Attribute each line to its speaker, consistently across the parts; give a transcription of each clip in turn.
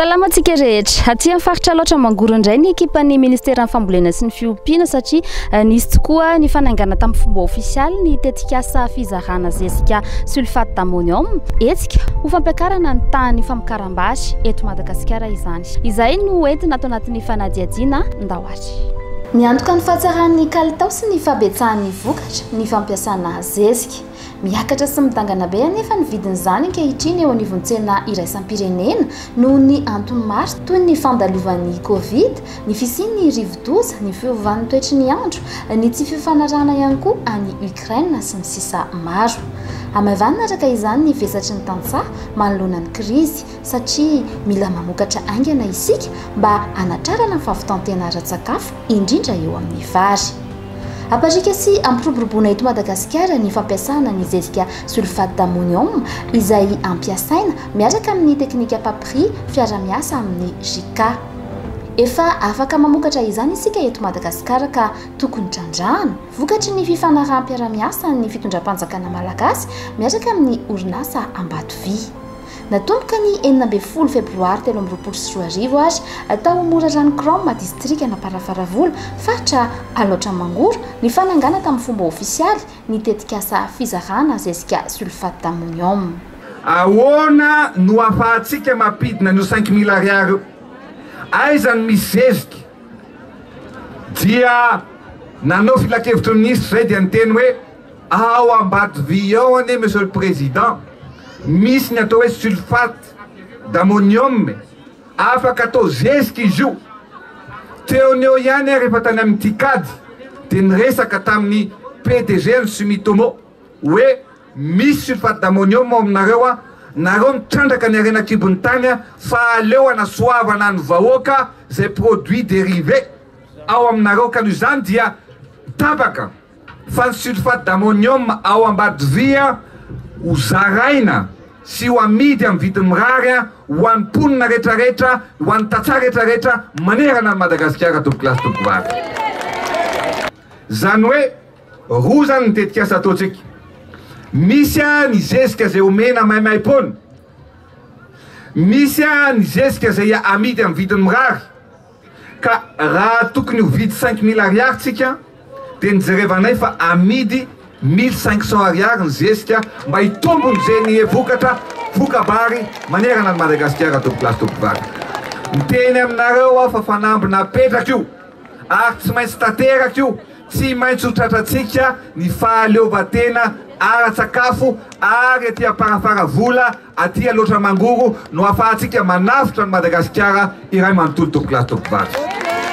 Speaker 1: Salama antsika rehetra. Aty amin'ny faritra Alaotra Mangoro indray ny ekipan'ny Ministeran'ny Fambolena sy ny Fiompiana satria eh, nisy tokoa ny fanaingana tamin'ny fomba ofisialy ny tetikasa fizarana zezika sulfate d'ammonium. Hetsika ho fampiakarana ny tahan'ny famokaram-bary eto Madagasikara izany. Izay no entina ato anatin'ny fanadihadiana ndao Miantoka ny fahatsaran'ny kalitao sy ny fahabetsahan'ny vokatra ny fampiasana zezika. Miakatra sy midangana be anefa ny vidin'izany ankehitriny eo anivon'ny tsena iraisam-pirenena noho ny antony maro toy ny fandalovan'ny Covid, ny fisian'ny rivodoza, ny fiovan'ny toetry ny andro, ny tsy fifanarahana ihany koa any Ukraine sy ny sisa Maro hamaivanina araka izany ny vesatry ny tantsaha manoloana ny krizy satria mila mamokatra haingana isika mba hanatrarana ny fahavitan-tena ara-tsakafo, indrindra eo amin'ny vary. Hampariaka sy hampiroboroboana eto Madagasikara ny fampiasana ny zezika sulfate d'ammonium izay ampiasaina miaraka amin'ny teknika Papri fiara-miasa amin'ny JICA. Efa afaka mamokatra izany isika eto Madagasikara ka tokony trandrahana. Vokatry ny fifanaraham-piara-miasan'ny fitondram-panjakana malagasy miaraka amin'ny orinasa Ambatovy. Natomboka ny enina ambin'ny folo febroary telo amby roapolo sy roa arivo ary tao Morarano Chrome, distrikan'Amparafaravola, faritra Alaotra Mangoro, ny fanangana tamin'ny fomba ofisialy ny tetikasa fizarana zezika sulfate d'ammonium. Ahoana
Speaker 2: no ahafahantsika mampidina an'io cinq mille ariary io? Aiza no misy zezika? Dia nanao filankevitry ny minisitra izay dia niteny hoe. Ao Ambatodia ao anie Monsieur le Président, misy ny atao hoe sulfate d'ammonium e! Afaka atao zezika izy io. Teo ny eo ihany aho rehefa tany amin'ny Ticad dia niresaka tamin'ny PDG-n'ny Sumitomo hoe misy sulfate d'ammonium ao aminareo an! Nareo mitrandraka ny harena an-kibon'ny tany an! Fa aleo hanasoavana ny vahoaka izay produits dérivés ao aminareo ka noho izany dia tapaka. fa ny sulfate d'ammonium ao Ambatodia ho zaraina sy ho amidy amin'ny vidiny mirary ho an'ny mponina rehetrarehetra, ho an'ny tantsaha rehetrarehetra manerana an'i Madagasikara, tompoko lahy sy tompoko vavy. Izany hoe roa izany ny tetikasa ataontsika. Misy ny zezika izay omena maimaimpoana, misy ny zezika izay amidy amin'ny vidiny mirary. Ka raha tokony ho vidy cinq mille ariary tsika dia nijerevanay fa amidy mille cinq cents ariary ny zezika mba hitombony ze ny vokatra voka-bary manerana an'i Madagasikara Tompoko Lahy sy Tompoko Vavy. Miteny aminareo aho fa fanamby napetrako io ary tsy maintsy tanteraka io, tsy maintsy ho tratrantsika ny fahaleovantena ara-tsakafo ary aty am-parafara vola Aty Alaotra Mangoro no afahantsika manavotra an'i Madagasikara iray manontolo tompoko lahy tompoko vavy.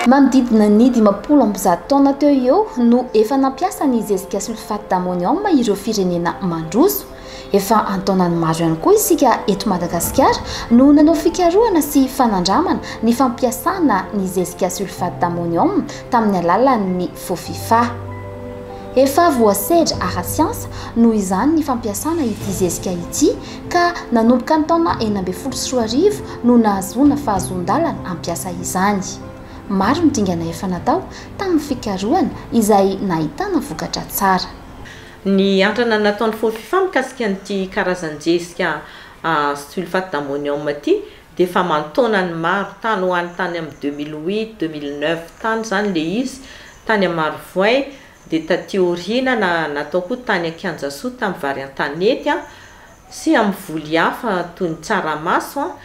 Speaker 2: Manodidina
Speaker 1: ny dimampolo amby zato taona teo ho eo no efa nampiasa ny zezika sulfate d'ammonium ireo firenena mandroso. Efa an-taonany maro ihany koa isika eto Madagasikara no nanao fikarohana sy fanandramana ny fampiasana ny zezika sulfate d'ammonium tamin'ny alalan'ny Fofifa. Efa voasedra ara-tsiansa noho izany ny fampiasana ity zezika ity ka nanomboka ny taona enina ambin'ny folo sy roa arivo no nahazoana fahazoan-dalana hampiasa izany. Maro ny dingana efa natao tamin'ny fikarohana izay nahitana vokatra tsara. Ny
Speaker 3: antrana nataon'ny Fofifa mikasika an'ity karazan-jezika sulfate d'ammonium ity dia efa aman-taonany maro tany ho any tany amin'ny deux mille huit, deux mille neuf tany izany ilay izy, tany amin'ny Marovoay, dia taty aoriana na natao koa tany Ankianjasoa tamin'ny vary an-tanety an, sy amin'ny voly hafa toy ny tsaramaso an,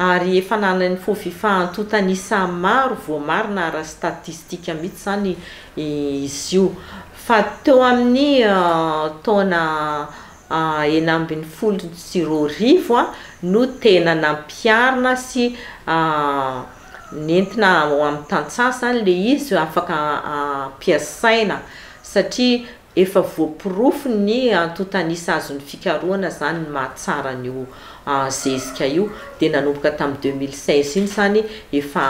Speaker 3: ary efa ananan'ny Fofifa antontan'isa maro voamarina ara-statistika mihitsy izany izy io, fa teo amin'ny taona enina ambin'ny folo sy roa arivo no tena nampiharina sy nentina ho amin'ny tantsaha izany ilay izy afaka ampiasaina satria efa voaporofo ny antontan'isa azon'ny fikarohana izany ny maha tsara an'io zezika io dia nanomboka tamin'ny deux mille seize iny izany efa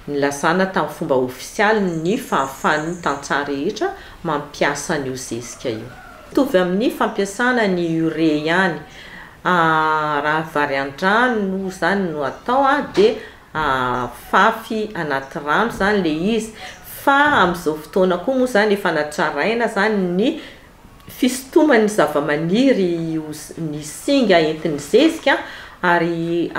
Speaker 3: nilazana tamin'ny fomba ofisialy ny fahafahan'ny tantsaha rehetra mampiasa an'io zezika io. Mitovy amin'ny fampiasana ny urea ihany, raha vary an-drano izany no atao dia afafy anaty rano izany ilay izy fa amin'izao fotoana koa moa izany efa natraraina izany ny fisintoman'ny zavamaniry ny singa entin'ny zezika ary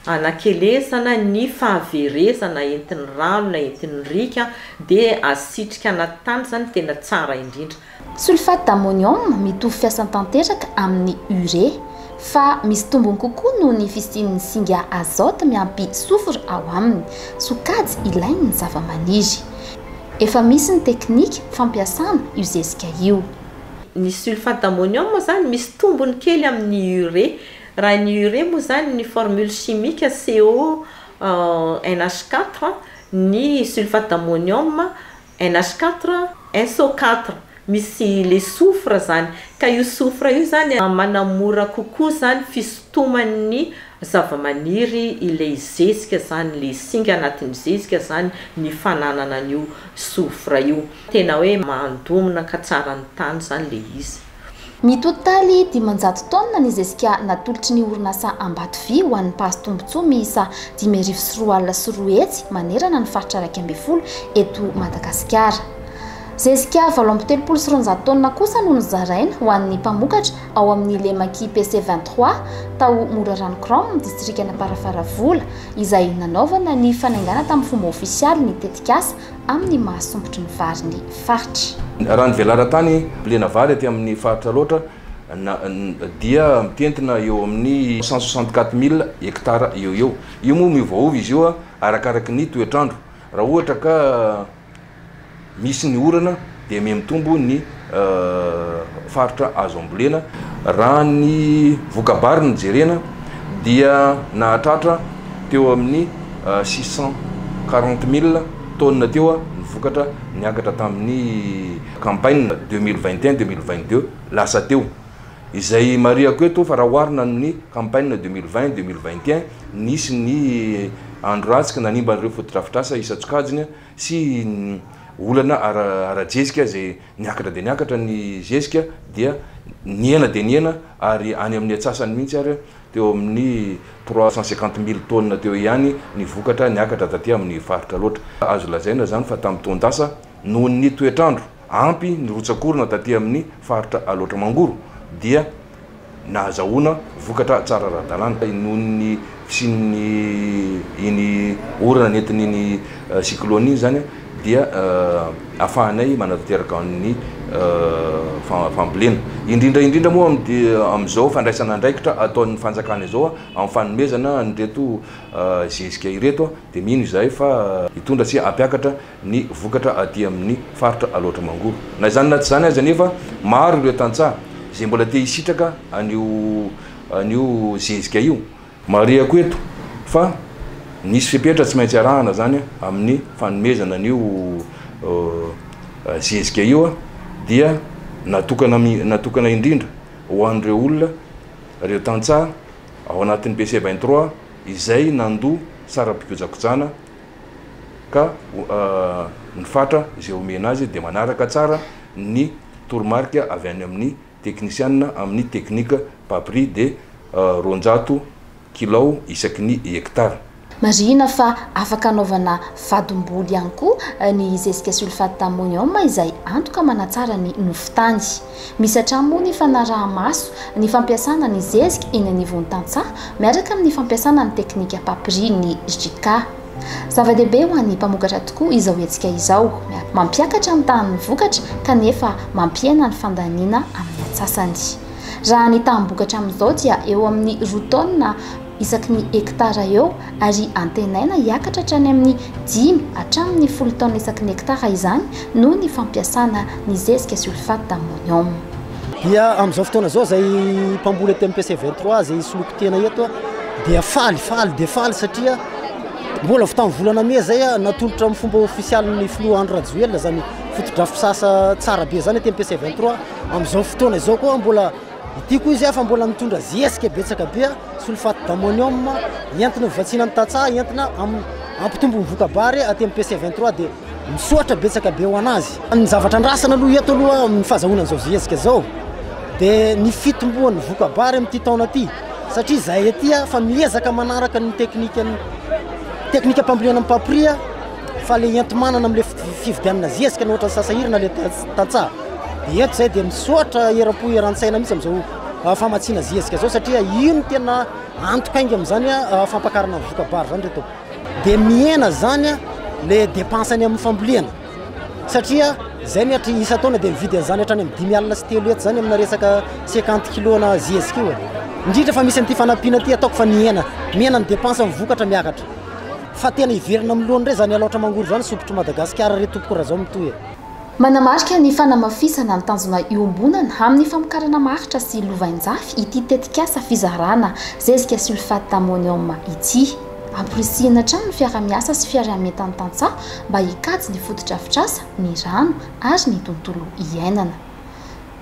Speaker 3: Anakelezana ny fahaverezana entin'ny rano na entin'ny riaka dia asitrika anaty tany izany tena tsara indrindra. Sulfate
Speaker 1: d'ammonium mitovy fiasany tanteraka amin'ny urée fa misy tombony kokoa noho ny fisian'ny singa azote miampy soufre ao aminy, sokajy ilain'ny zavamaniry. Efa misy ny teknika fampiasana io zezika io. Ny
Speaker 3: sulfate d'ammonium izany misy tombony kely amin'ny urée. Raha ny urée moa izany ny formule chimique CO NH quatre, ny sulfate d'ammonium NH quatre SO quatre, misy le soufre izany, ka io soufre io izany manamora kokoa izany fisintoman'ny zavamaniry ilay zezika izany, le singa anatin'ny zezika izany ny fananana an'io soufre io, tena hoe mandomina ka tsara ny tany izany le izy. Ny totaly
Speaker 1: dimanjato taonina ny zezika natolotry ny orinasa Ambato Vy ho an'ny mpahazo tombontsoa miisa dimy arivo sy roa alina sy roa hetsy manerana ny faritra iraika ambin'ny folo eto Madagasikara. Zezika valo amby telopolo sy roanjato taonina kosa no nozaraina ho an'ny mpamokatra ao amin'ny Lemaki PC vingt trois tao Morarano Chrome, distrikan'Amparafaravola, izay nanaovana ny fanaingana tamin'ny fomba ofisialy ny tetikasa amin'ny maha sompitry ny vary ny faritra. Raha ny velaran-tany
Speaker 4: mbolena vary aty amin'ny faritra Alaotra na dia mitentina eo amin'ny cent soixante quatre mille hectares eo eo. Io moa miovaova izy io arakaraky ny toetr'andro. Raha ohatra ka misy ny orana dia mihamitombo ny faritra azo ambolena. Raha ny voka-bary no jerena dia nahatratra teo amin'ny six cent quarante mille tonnes teo ny vokatra niakatra tamin'ny campagne deux mille vingt et un, deux mille vingt deux lasa teo. Izay marihako eto fa raha oharina amin'ny campagne deux mille vingt, deux mille vingt et un, nisy ny andro ratsy ka nanimba an'ireo fotodrafitrasa isan-tsokajiny. sy ny olana ara-jezika izay niakatra dia niakatra ny zezika dia nihena dia nihena ary any amin'ny atsasany mihitsy ary teo amin'ny trois cent cinquante mille tonnes teo ihany ny vokatra niakatra taty amin'ny faritra loatra. Azo lazaina izany fa tamin'ny taon-dasa noho ny toetr'andro. Ampy ny rotsak'orona taty amin'ny faritra Alaotra Mangoro dia nahazahoana vokatra tsara ara-dalàna noho ny fisian'ny iny orana nentin'iny cyclone iny izany dia ahafahanay manatanteraka ny fambolena indrindra indrindra moa amin'izao fandraisana andraikitra ataon'ny fanjakana izao amin'ny fanomezana an'ireto zezika ireto dia mino izahay fa hitondra sy hampiakatra ny vokatra aty amin'ny faritra Alaotra Mangoro. Na izany na tsy izany aza anefa, maro ireo tantsaha izay mbola te hisitraka an'io an'io zezika io. Marihako eto fa misy fepetra tsy maintsy arahana izany amin'ny fanomezana an'io zezika io dia natokana natokana indrindra ho an'ireo olona, ireo tantsaha ao anatin'ny BC vingt trois izay nandoa saram-pikojakojana. ka ny fatra izay omena azy dia manaraka tsara ny toromarika avy any amin'ny teknisianina amin'ny teknika Papri dia roanjato kilao isaky ny hektara. Marihina fa
Speaker 1: afaka anaovana vadim-boly ihany koa ny zezika sulfate d'ammonium izay antoka manatsara ny nofon-tany. Misy hatrany moa ny fanaraha-maso ny fampiasana ny zezika eny anivon'ny tantsaha miaraka amin'ny fampiasana ny teknika papiria ny JK. Zava-dehibe ho an'ny mpamokatra tokoa izao hetsika izao. Mampiakatra ny tahan'ny vokatra kanefa mampihena ny fandaniana amin'ny antsasany. Raha ny taham-bokatra amin'izao dia eo amin'ny roa taonina isaky ny hektara eo ary antenaina hiakatra hatrany amin'ny dimy hatramin'ny folo taonina isaky ny hektara izany noho ny fampiasana ny zezika sulfate d'ammonium. Dia
Speaker 5: amin'izao fotoana izao izay mpamboly eto MPC 23 izay soloiko tena eto dia faly, faly dia faly satria mbola vao tamin'ny volana mey izay natolotra amin'ny fomba ofisialin'ny filoha Andry Rajoelina izany fotodrafitrasa tsara be izany eto MPC 23, amin'izao fotoana izao koa mbola Ity koa izy afa mbola mitondra zezika betsaka be, sulfate d'ammonium, entina hovatsiana ny tantsaha, entina hampitombo ny voka-bary aty amin'ny PC 23 dia misoatra betsaka be ho anazy. Ny zavatra andrasana aloha eto aloha amin'ny fahazahoana an'izao zezika izao dia ny fitomboan'ny voka-bary amin'ity taona ity satria izahay aty afa miezaka manaraka ny teknikan'ny teknikam-pambolena mipapria. fa le enti-manana amle fividianana zezika na ohatran'ny sasahirana le tantsaha de ento zay de misoatra eram-po eran-tsaina mihitsy am'zao ah, famatsiana zezika zao satria ino tena antoka inga am'zany a ah, ah, fampakarana ny vokabary zany reto de mihena zany a le dépense any amin'ny fambolena satria zay ny hatry isa taona de mividy an'zany hatrany amin'ny dimy alina sy telo eto zany amina resaka cinquante kilona zezika io e indrindra fa misy an'ity fanampiana ty ataoko fa nihena mihena ny dépense amin'ny vokatra miakatra Fa tena hiverina amin'ny lohany re zany alaotra mangoro zany sompitry Madagasikara re tompoko Rajao mitohy e. Manamarika
Speaker 1: ny fanamafisana ny tanjona iombonana amin'ny famokarana maharitra sy lovainjafy ity tetikasa fizarana zezika sulfate d'ammonium ity. Amporisihina hatrany ny fiaraha-miasa sy fiariametan'ny tantsaha mba hikajy ny fotodrafitrasa, ny rano ary ny tontolo iainana.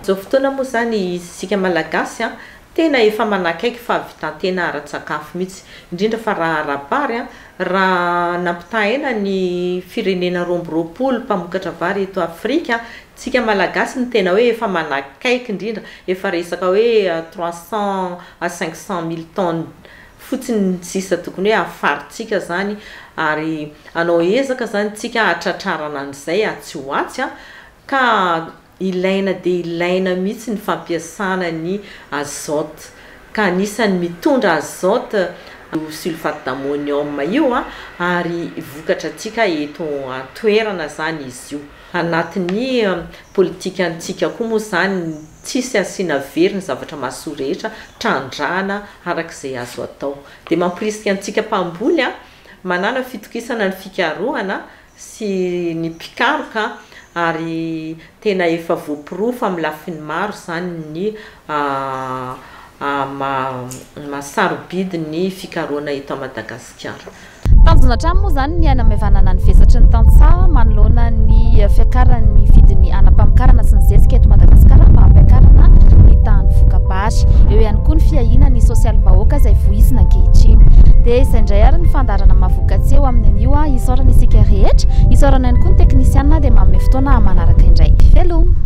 Speaker 1: Izao
Speaker 3: fotoana moa izany isika Malagasy Tena efa manakaiky fahavitan-tena ara-tsakafo mihitsy, indrindra fa raha ara-bary, raha nampitahaina ny firenena roa amby roapolo mpamokatra vary eto Afrika, tsika Malagasy no tena hoe efa manakaiky indrindra, efa resaka hoe trois cents à cinq cents mille tonnes fotsiny ny sisa tokony hoe hafarintsika izany ary hanao ezaka izany tsika hahatratrarana an'izay atsy ho atsy ka Ilaina dia ilaina mihitsy ny fampiasana ny azote ka anisan'ny mitondra azote io sulfate d'ammonium io ary vokatra antsika eto an-toerana izany izy io. Anatin'ny politikantsika koa moa izany ny tsisy asiana very ny zavatra mahasoa rehetra, trandrahana araka izay azo atao. Dia mamporisika antsika mpamboly manana fitokisana ny fikarohana sy ny mpikaroka ary tena efa voaporofo amin'ny lafiny maro izany ny maha sarobidy ny fikarohana eto Madagasikara. Tanjona hatrany
Speaker 1: moa izany ny hanamaivanana ny vesatry ny tantsaha manoloana ny fiakaran'ny vidin'ny hanam-pamokarana sy ny zezika eto Madagasikara mba hampiakarana ny tahan'ny voka-baratra. Malagasy. Eo ihany koa ny fiahiana ny sosialim-bahoaka izay voizina ankehitriny. Dia izay indray ary ny fandaharana mahavokatse eo amin'ny anio. Isaorana isika rehetra. Isaorana ihany koa ny teknisianina dia manome fotoana manaraka indray. Veloma!